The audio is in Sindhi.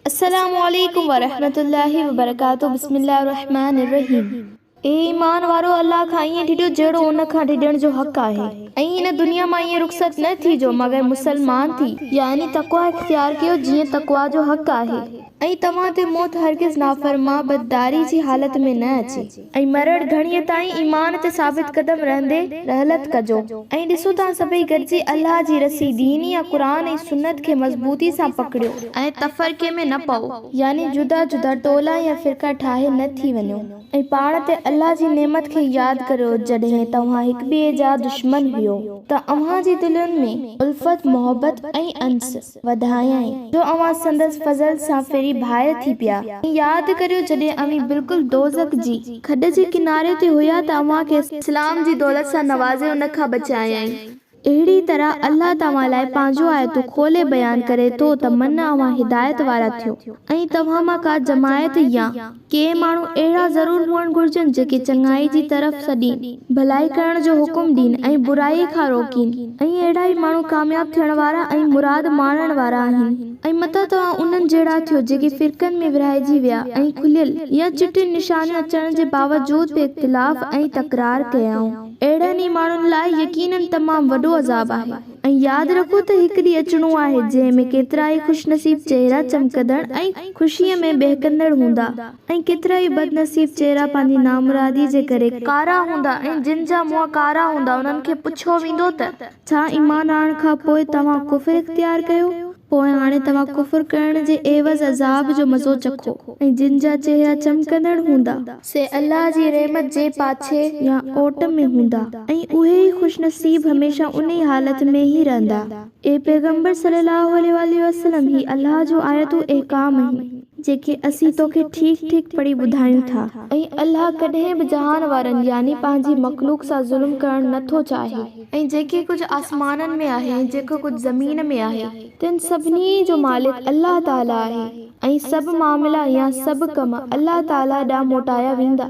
السلام عليڪم ورحمة الله وبرڪاته بسم الله الرحمٰن الرحيم اي ايمان وارؤ الله کان ائين ڊڄو جهڙو ان کان ڊڄڻ جو حق آهي ۽ ان دنيا مان ائين رخصت نه ٿيجو مگر مسلمان ٿي يعني تقويٰ اختيار ڪيو جيئن تقويٰ جو حق آهي. ۽ توهان تي موت هرگز نافرمان بدداري جي حالت ۾ نه اچي. ۽ مرڻ گهڙيء تائين ايمان تي ثابت قدم رهندي رحلت ڪجو. ۽ ڏسو توهان سڀئي گڏجي الله جي رسي، دين يا قرآن ۽ سنت، کي مضبوطي سان پڪڙيو. ۽ تفرقي ۾ نه پئو، يعني جدا جدا ٽولا يا فرقا ٺاهي نه ٿي وڃو. ۽ پاڻ تي الله جي نعمت کي ياد ڪريو جڏهن توهان هڪٻئي جا دشمن هيو ته اوهان جي دلين ۾ الفت، محبت ۽ انس، وڌايائين، جو اوهان سندس فضل سان ڦري ڀائر ٿي پيا. ۽ ياد ڪريو جڏهن اوهين بلڪل دوزخ جي کڏ جي ڪناري تي هيا ته اوهان کي. اسلام جي دولت سان نوازي ان کان بچايائين. اهڙيء طرح الله توهان لاء پنهنجون آيتون کولي بيان ڪري ٿو ته من اوهان هدايت وارا ٿيو ۽ توهان مان ڪا جماعت يا. ڪي ماڻهو اهڙا ضرور هئڻ گهرجن جيڪي چڱائي جي طرف سڏين، ڀلائي ڪرڻ جو حڪم ڏين ۽ برائي کان روڪين ۽ اهڙا ئي ماڻهو ڪامياب ٿيڻ وارا ۽ مراد ماڻڻ وارا آهن ۽ متان توهان انهن جهڙا ٿيو جيڪي فرقن ۾ ورهائجي ويا ۽ کليل يا چٽين نشانيون اچڻ جي باوجود به اختلاف ۽ تڪرار ڪيائون اهڙن ئي ماڻهن لاء يقيناً تمام وڏو عذاب آهي. ۽ ياد رکو ته هڪ ڏينهن اچڻو آهي جنهن ۾ ڪيترائي خوشنصيب چهرا چمڪندڙ ۽ خوشيء ۾ ٻهڪندڙ هوندا ۽ ڪيترائي بدنصيب چهرا پنهنجي نامرادي جي ڪري ڪارا هوندا ۽ جن جا منهن ڪارا هوندا انهن کي پڇيو ويندو ته ڇا ايمان آڻڻ کان پوء توهان ڪفر اختيار ڪيو؟ پوء هاڻي توهان ڪفر ڪرڻ جي عيوض عذاب جو مزو چکو ۽ جن جا چهرا چمڪندڙ هوندا. سي الله جي رحمت جي پاڇي يا اوٽ ۾ هوندا ۽ اهي ئي خوش نصيب هميشه انهي حالت ۾ ئي رهندا. اي پيغمبر صلّي اللّٰه عليه واٰله وسلّم! هي الله جون آيتون احڪام آهن، جيڪي اسين توکي ٺيڪ ٺيڪ پڙهي ٻڌايون ٿا. ۽ الله ڪڏهن به جهان وارن يعني پنهنجي مخلوق سان ظلم ڪرڻ نه ٿو چاهي. ۽ جيڪي ڪجهه آسمانن ۾ آهي ۽ جيڪو ڪجهه زمين ۾ آهي، تن سڀني جو مالڪ الله تعاليٰ آهي ۽ سڀ معاملا يا سڀ ڪم الله تعاليٰ ڏانهن موٽايا ويندا.